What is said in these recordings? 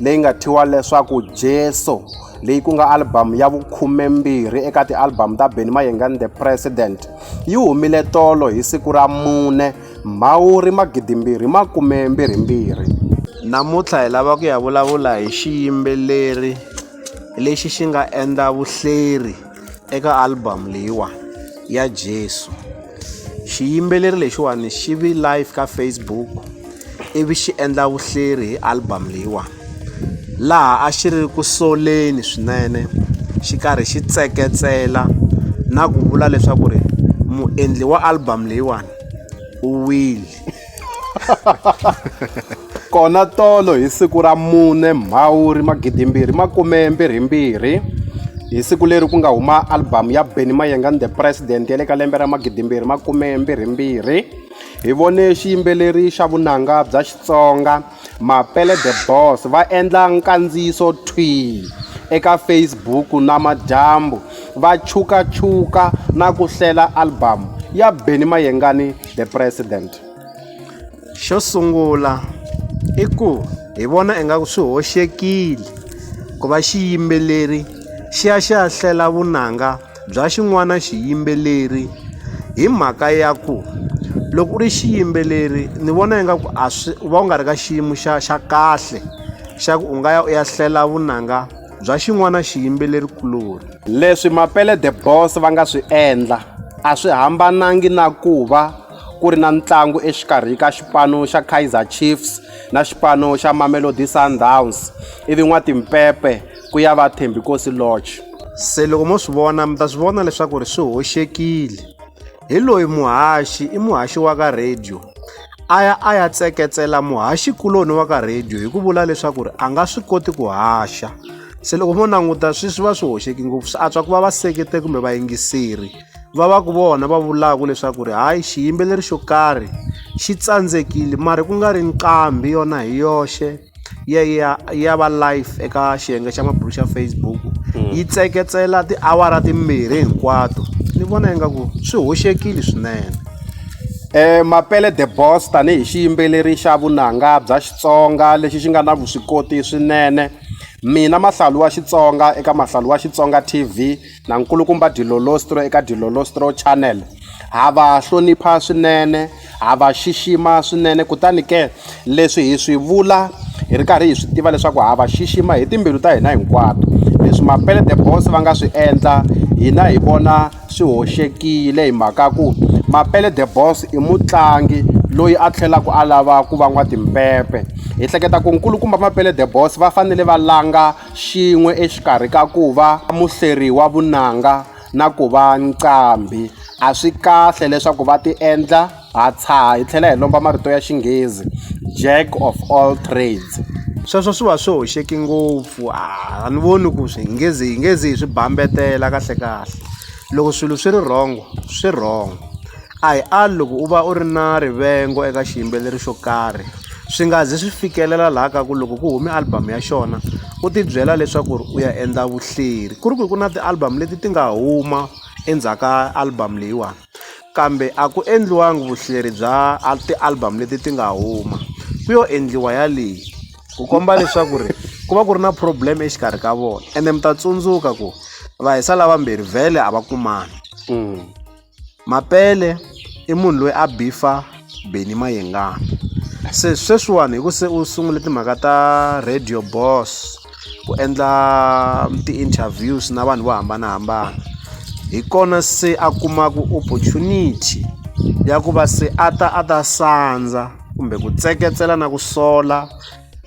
leyi nga thyiwa leswaku jesu leyi ku nga albhamu ya vukhumembirhi eka tialbhamu ta benny mayenga ni the president yi humile tolo hi siku ra mune mhawuri magidimbirhi makumembirhimbirhi namuntlha hi lava ku ya vulavula hi xiyimbeleri lexi xi nga endla vuhleri Eka album leyiwa ya Jesu xiyimbeleri lexiwani xi vi live ka Facebook ivi xi endla vuhleri hi album leyiwa laha a xi ri ku soleni swinene xi karhi xi tseketsela na ku vula leswaku ri muendli wa album leyiwani u wile. kona tolo hi siku ra mune mhawuri magidimbirhi makumembirhimbirhi hi siku leri ku nga huma albhamu ya benny mayenga ni the president ya le ka lembe ra magidimbirhi makumembirhimbirhi hi vone xiyimbeleri xa vunanga bya xitsonga Mapele The Boss va endla nkandziyiso thwii eka Facebook namadyambu va chukachuka na ku hlela albhamu ya Benny Mayengani The President. Xo sungula i ku hi vona ingaku swi hoxekile ku va xiyimbeleri xi ya xi ya hlela vunanga. bya xin'wana xiyimbeleri hi mhaka ya ku loko u ri xiyimbeleri ni vona ingaku a swi u va u nga ri ka xiyimo xa xa kahle xa ku u nga ya u ya hlela vunanga bya xin'wana xiyimbeleri kuloni. Leswi Mapele the Boss va nga swi endla a swi hambanangi na ku va ku ri na ntlangu exikarhi ka xipano xa Kaizer Chiefs na xipano xa Mamelodi Sundowns ivi n'watimpepe ku ya va thembikosi lodge se loko mo swi vona mi ta swi vona leswaku ri swi hoxekile hi loyi muhaxi i muhaxi wa ka radio a ya a ya tseketsela muhaxi kuloni wa ka radio hi ku vula leswaku ri a nga swi koti ku haxa se loko mo languta swi swi va swi hoxeki ngopfu swi antswa ku va va sekete kumbe vayingiseri va va ku vona va vulaka leswaku ri hayi xiyimbeleri xo karhi xi tsandzekile mara ku nga ri nqambi yona hi yoxe ya ya ya va live eka xiyenge xa mabulu xa Facebook yi tseketsela tiawara timbirhi hinkwato ni vona ingaku swi hoxekile swinene Eh Mapele the Boss tanihi xiyimbeleri xa vunanga bya Xitsonga lexi xi nga na vuswikoti swinene mina mahlalu wa Xitsonga eka mahlalu wa Xitsonga T_V na nkulukumba Dilolostro eka Dilolostro Channel ha va hlonipha swinene ha va xixima swinene kutani ke leswi hi swi vula hi ri karhi hi swi tiva leswaku ha va xixima hi timbilu ta hina hinkwato leswi mapele the boss va nga swi endla hina hi vona swi hoxekile hi mhaka ku mapele the boss i mutlangi loyi a tlhelaku a lava ku va n'watimpepe hi hleketa ku nkulukumba mapele the boss va fanele va langa xin'we exikarhi ka ku va muhleri wa vunanga na ku va nqambhi. A swi kahle leswaku va ti endla ha tshaha hi tlhela hi lomba marito ya Xinghezi Jack of all trades. Sweswo swi va swi hoxeke ngopfu a ni voni ku swi hi nge zi hi nge zi hi swi bambetela kahlekahle loko swilo swi ri wrong swi wrong. A hi ali loko u va u ri na rivengo eka xiyimbeleri xo karhi swi nga zi swi fikelela laha ka ku loko ku hume album ya xona u tibyela leswaku ri u ya endla vuhleri ku ri ku ku na ti-album leti ti nga huma endzhaku ka album leyiwani kambe a ku endliwangi vuhleri bya ti-album leti ti nga huma ku yo endliwa ya leyi ku komba leswaku ri ku va ku ri na problem exikarhi ka vona ende mi ta tsundzuka ku vahisa lavambirhi vhele a va kumani. Mapele i munhu loyi a beef-a Benny Mayengani se sweswiwani hi ku se u sungule timhaka ta radio boss ku endla ti-interviews na vanhu vo hambanahambana hi kona se a kumaka opportunity ya ku va se a ta a ta sandza kumbe ku tseketsela na ku sola.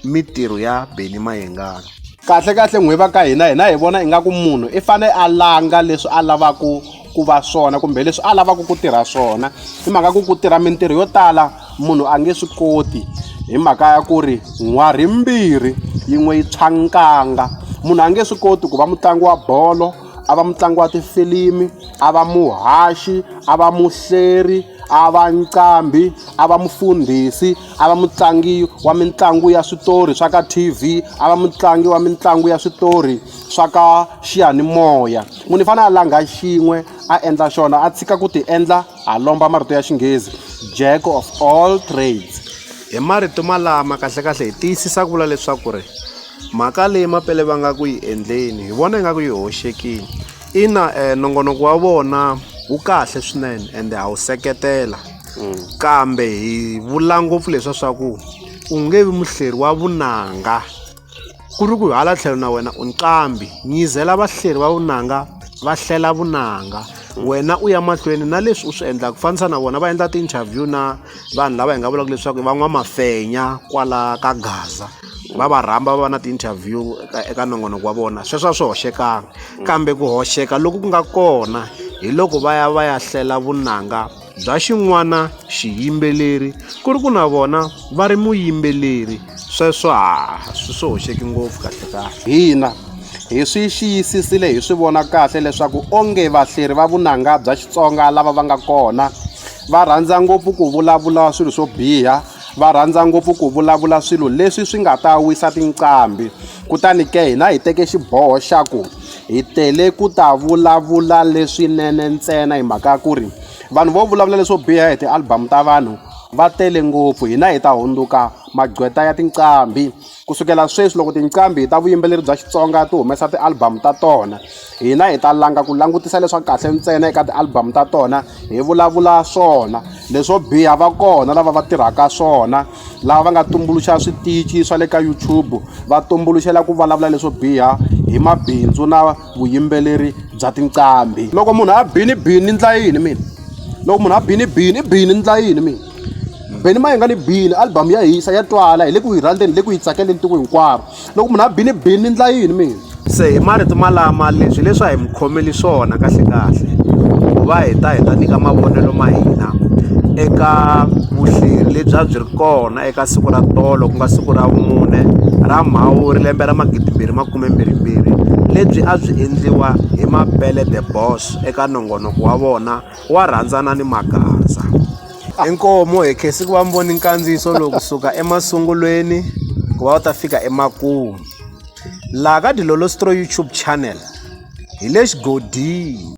mitirho ya beni mayengana kahle kahle n'wi va ka hina hina hi vona ingaku munhu i fanele a langa leswi a lavaku ku va swona kumbe leswi a lavaku ku tirha swona hi mhaka ku ku tirha mintirho yo tala munhu a nge swi koti hi mhaka ya ku ri n'wari mbirhi yin'we yi tshwa nkanga munhu a nge swi koti ku va mutlangi wa bolo a va mutlangi wa tifilimi a va muhaxi a va muhleri A va nqambhi, a va mufundhisi, a va mutlangi wa mitlangu ya switori swa ka T_V, a va mutlangi wa mitlangu ya switori swa ka xiyanimoya. Munhu i fanele a langha xin'we a endla xona a tshika ku ti endla a lomba marito ya xinghezi Jack of all trades. Hi marito malama kahlekahle hi tiyisisa ku vula leswaku ri mhaka leyi Mapele va nga ku yi endleni hi vona ingaku yi hoxekile. Ina nongonoko wa vona wu kahle swinene ende ha wu seketela mm. kambe hi vula ngopfu leswa swa ku u nge vi muhleri wa vunanga ku ri ku hala tlhelo na wena u nqambi nyizela vahleri va vunanga va hlela vunanga wena u ya mahlweni na leswi u swi endlaka ku fanisa na vona va endla ti-interview na vanhu lava hi nga vulaka leswaku i van'wamafenya kwala ka gaza va va rhamba va va na ti-interview eka eka nongonoko wa vona sweswo a swi hoxekangi kambe ku hoxeka loku ku nga kona hi loko va ya va ya hlela vunanga bya xin'wana xiyimbeleri ku ri ku na vona va ri muyimbeleri sweswo ha swi swi hoxeki ngopfu kahle kahle hina hi swi xiyisisile hi swi vona kahle leswaku onge vahleri va vunanga bya xitsonga lava va nga kona va rhandza ngopfu ku vulavula swilo swo biha va rhandza ngopfu ku vulavula swilo leswi swi nga ta wisa tinqambi kutani ke hina hi teke xiboho xa ku hi tele ku ta vulavula leswinene ntsena hi mhaka ya ku ri vanhu vo vulavula leswo biha hi ti-album ta vanhu va tele ngopfu hina hi ta hundzuka magqweta ya tinqambi. Ku sukela sweswi loko tinqambi ta vuyimbeleri bya Xitsonga ti humesa ti-album ta tona, hina hi ta langa ku langutisa leswa kahle ntsena eka ti-album ta tona hi vulavula swona. Leswo biha va kona lava va tirhaka swona, lava va nga tumbuluxa switichi swa le ka YouTube va tumbuluxela ku vulavula leswo biha hi mabindzu na vuyimbeleri bya tinqambi. Loko munhu a bini bini ni endla yini mina? Loko munhu a bini bini i bini ni endla yini mina? Benny Mayengani Bini album ya hisa ya twala hi le ku yi rhandzeni hi le ku yi tsakeleni tiko hinkwaro loko munhu a bini bini ni ndla yini mina se hi marito malama leswi leswi a hi mi khomeli swona kahle kahle ku va hi ta hi ta nyika mavonelo ma hina eka vuhleri lebyi a byi ri kona eka siku ra tolo ku nga siku ra vumune ra mhawuri lembe ra magidimbirhi makume mbirhimbirhi lebyi a byi endliwa hi mapele the boss eka nongonoko wa vona wa rhandzana ni magaza. Inkomu hi khesi ku va mi voni nkandziyiso lowu kusuka emasungulweni ku va u ta fika emakumu laha ka dilolostro youtube channel hi le xigodini